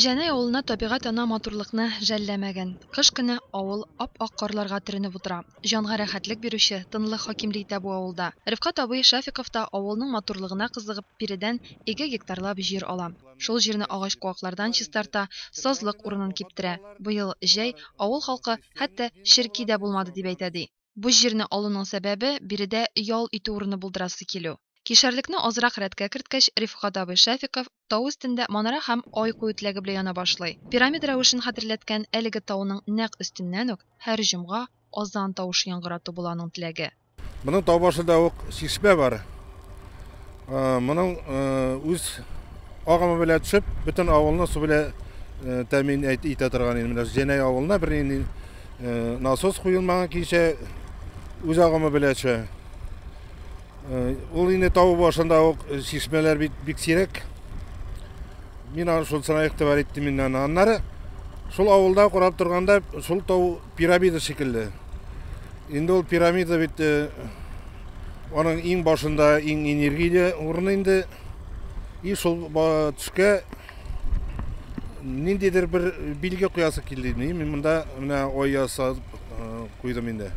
Җәнай авылына табигать ана матурлыкны жәлләмәгән. Кыш көне авыл ап-ак карларга төренеп утыра. Җанга рәхәтлек бирүче тынлык хакимли итә бу авылда. Рифкать абый Шәфиков та авылның матурлыгына кызыгып биредән ике гектарлап җир ала. Шул җирне агач-куаклардан чистарта, сазлык урынын киптерә. Быел җәй авыл халкы хәтта черки дә булмады дип әйтә, ди. Бу җирне алуның сәбәбе, биредә ял итү урыны булдырасы килү. Кишәрлекне азрак рәткә керткәч, Рифкать абый Шәфиков тау өстендә манара һәм ай кую теләге белән яна башлый. Пирамида рәвешен хәтерләткән әлеге тауның нәкъ өстеннән үк һәр җомга азан тавышы яңгырату була аның теләге. Моның тау башында ук чишмә бар. Моның үз агымы белән төшеп, бөтен авылны су белән тәэмин итә торган инде. Менә Җәнәй авылына бернинди насос куелмаган кичә үз агымы белән төшә. Ул инде тау башында ук чишмәләр бик, бик сирәк. Мин аны шулсына игътибар иттем инде аны. Аннары шул авылда карап торганда шул тау пирамида шикелле. Инде ул пирамида бит аның иң башында иң энергия урыны инде. И шул төшкә Ниндидер бер билге куясы килде инде. Мин монда менә ай ясап куйдым инде.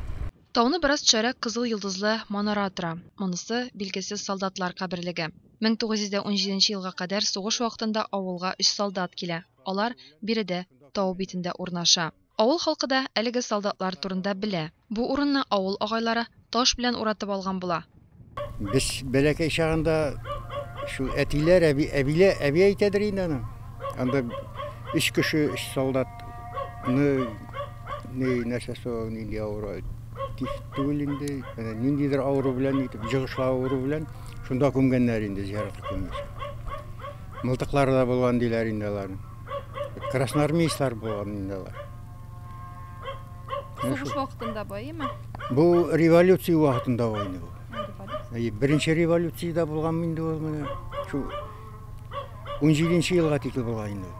Тауны бераз төшәрәк кызыл йолдызлы манара тора. Монысы, билгесез солдатлар каберлеге. 1917 елга кадәр сугыш вакытында авылга өч солдат килә. Алар биредә, тау битендә урнаша. Авыл халкы да әлеге солдатлар турында белә. Бу урынны авыл агайлары таш белән уратып алган була. Без бәләкәй чагында шул әтиләр, әби, әбилә, әби әйтәдер инде аны. Анда өч кеше, өч солдат ны ни нәрсәсе ул, нинди авыру, тиф түгел инде, әнә ниндидер авыру белән итеп, җыгышлы авыру белән шунда күмгәннәр инде, зиярат көнне. Мылтыклары да булган диләр инде аларның. Красноармейцлар булган инде алар. Сугыш вакытында бу, әйеме? Бу революция вакытында бу инде бу. Беренче революциядә булган инде ул менә шул 17 елга тикле булган инде.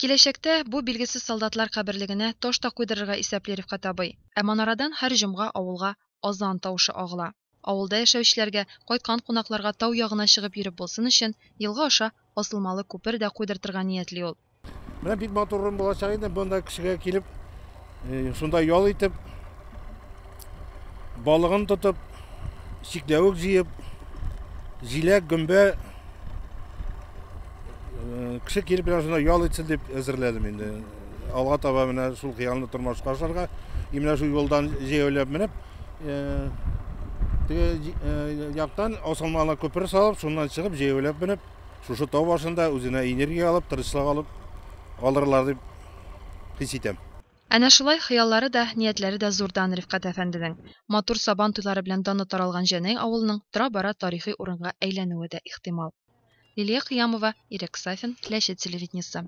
Киләчәктә бу билгесез солдатлар каберлегенә таш та куйдырырга исәпли Рифкать абый. Ә манарадан һәр җомга авылга азан тавышы агыла. Авылда яшәүчеләргә, кайткан кунакларга тау ягына чыгып йөреп булсын өчен, елга аша асылмалы күпер дә куйдыртырга ниятли ул. Менә бик матур урын булачак иде, монда кешегә килеп, шунда ял итеп, балыгын тотып, чикләвек җыеп, җиләк, гөмбә кеше килеп менә шунда ял итсен дип әзерләдем инде. Алга таба менә шул хыялны тормышка ашарга, и менә шул юлдан җәяүләп менеп, Теге яктан асылмалы күпер салып, шуннан чыгып, җәяүләп менеп, шушы тау башында үзенә энергия алып, тырышлык алып алырлар дип хис итәм. Әнә шулай хыяллары да, ниятләре дә зурдан Рифкать әфәнденең. Матур Сабан туйлары белән даны таралган Җәнәй авылының тора-бара тарихи урынга әйләнүе дә ихтимал. Лилия Кыямова, Ирек Сафин, Ләчет телевидениесе.